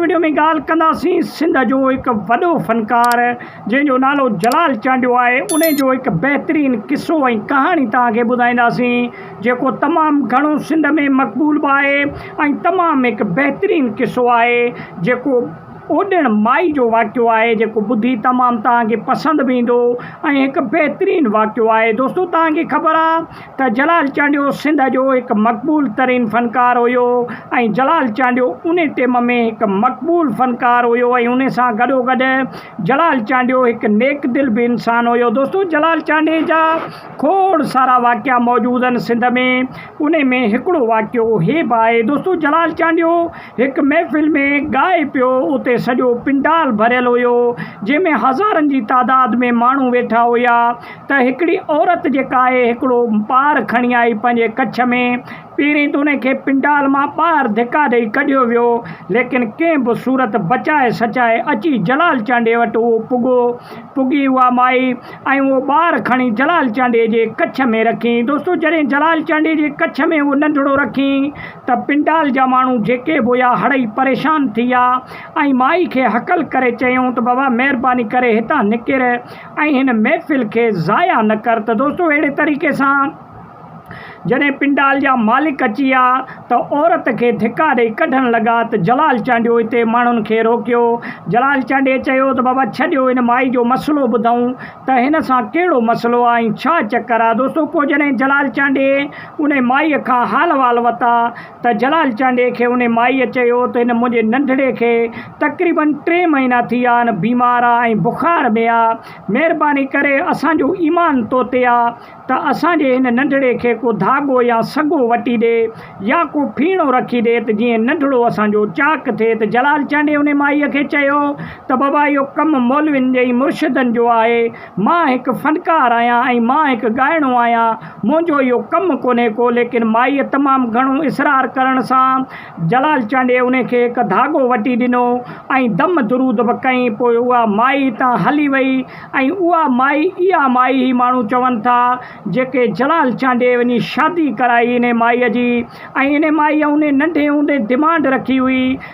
Video ۾ ڳالهه ڪنداسين سنڌ جو هڪ وڏو فنڪار جنهن جو نالو جلال چانڊيو آهي انهي جو هڪ بهترين قصو ۽ ڪهاڻي توهان کي ٻڌائينداسين جيڪو تمام گهڻو سنڌ ۾ مقبول به آهي ۽ تمام هڪ بهترين قصو آهي جيڪو اوڏڻ مائي جو واقعو آهي جيڪو ٻڌي تمام توهان کي پسند به ايندو ۽ هڪ بهترين واقعو آهي دوستو توهان کي خبر آهي ته جلال چانڊيو سنڌ جو هڪ مقبول ترين فنڪار هيو ۽ جلال چانڊيو انهي ٽيم ۾ هڪ مقبول فنڪار هيو ۽ انهي سان گڏوگڏ جلال چانڊيو هڪ نيڪ دل به انسان هيو دوستو جلال چانڊيي جا کوڙ سارا واقعا موجود آهن سنڌ ۾ انهي ۾ هڪڙو واقعو هي به آهي دوستو جلال چانڊيو هڪ محفل ۾ ڳائي پيو اتي سڄو پنڊال ڀريل هيو جنهن ۾ هزارن جي تعداد ۾ ماڻهو ويٺا هيا ته هڪڙي عورت جيڪا آهي هڪڙو پار کڻي آئي پنهنجي ڪڇ ۾، پهرين ته انهي کي پنڊال مان ٻاهر ڌڪا ڏئي ڪڍيو ويو، ليڪن ڪنهن به صورت بچائي سچائي اچي جلال چانڊيي وٽ اهو پڳو، پڳي اها مائي ۽ اهو ٻار کڻي جلال چانڊيي جي ڪڇ ۾ رکين. دوستو جڏهن جلال چانڊيي جي ڪڇ ۾ اهو ننڍڙو رکين ته پنڊال جا ماڻهو جيڪي به هيا هڙئي پريشان ٿي ويا ۽ مائي کي هڪل ڪري چيائون ته بابا مهرباني ڪري هتان نڪر ۽ هن محفل کي ضايع نه ڪر ته دوستو اهڙي طريقي سان جڏهن پنڊال جا مالڪ اچي ويا ته عورت کي ڌڪا ڏئي ڪڍڻ لڳا ته جلال چانڊيو اتي ماڻهن کي روڪيو جلال چانڊيي چيو ته بابا ڇڏيو هن مائي جو مسئلو ٻڌئون ته هن سان ڪهڙو مسئلو آهي ۽ ڇا چڪر آهي دوستو پوء جڏهن جلال چانڊيي انهي مائي کان حال احوال وتا ته جلال چانڊيي کي انهي مائيء چيو ته هن منهنجي ننڍڙي کي تقريباً ٽي مهينا ٿي ويا آهن، بيمار آ ۽ بخار ۾ آ، مهرباني ڪري اسان جو ايمان تو تي آ ته اسان جي هن ننڍڙي کي ڪو ڌاڳو يا سڳو وٽي ڏي يا ڪو ڦيڻو رکي ڏي ته جيئن ننڍڙو اسان جو چاڪ ٿئي ته جلال چانڊيي انهي مائيء کي چيو ته بابا اهو ڪم مولوين ۽ مرشدن جو آهي مان هڪ فنڪار آهيان ۽ مان هڪ ڳائڻو آهيان. منهنجو اهو ڪم ڪونهي ڪو. ليڪن مائيء تمام گهڻو اصرار ڪرڻ سان جلال چانڊيي انهي کي هڪ ڌاڳو وٽي ڏنو ۽ دم درود به ڪيائين. پوء اها مائي هتان هلي وئي ۽ اها مائي اها مائي هي ماڻهو چون ٿا جيڪي جلال چانڊيي وڃي شادي ڪرائي انهي مائيء جي ۽ انهي مائيء انهي ننڍي هوندي ڊمانڊ رکي هئي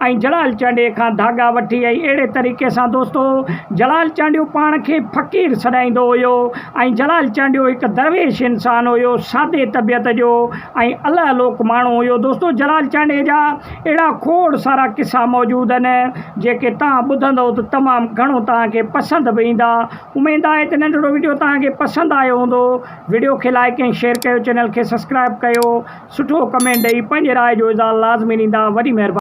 ۽ جلال چانڊيي کان ڌاڳا وٺي ۽ اهڙي طريقي سان دوستو جلال چانڊيو پاڻ کي فقير سڏائيندو هيو ۽ جلال چانڊيو هڪ درويش انسان هيو سادي طبيعت جو ۽ الهه لوڪ ماڻهو هيو دوستو جلال چانڊيي جا اهڙا کوڙ سارا قصا موجود آهن جيڪي توهان ٻڌندؤ ته تمام گهڻو توهان کي پسند به ايندا اميد آهي ته ننڍڙو وڊيو توهان کي پسند آيو هوندو وڊيو کي لائيڪ ۽ شيئر ڪيو چينل کي سبسڪرائيب ڪيو سٺو ڪمينٽ ڏئي پنهنجي راء جو اظهار لازمي ڏيندا وڏي مهرباني.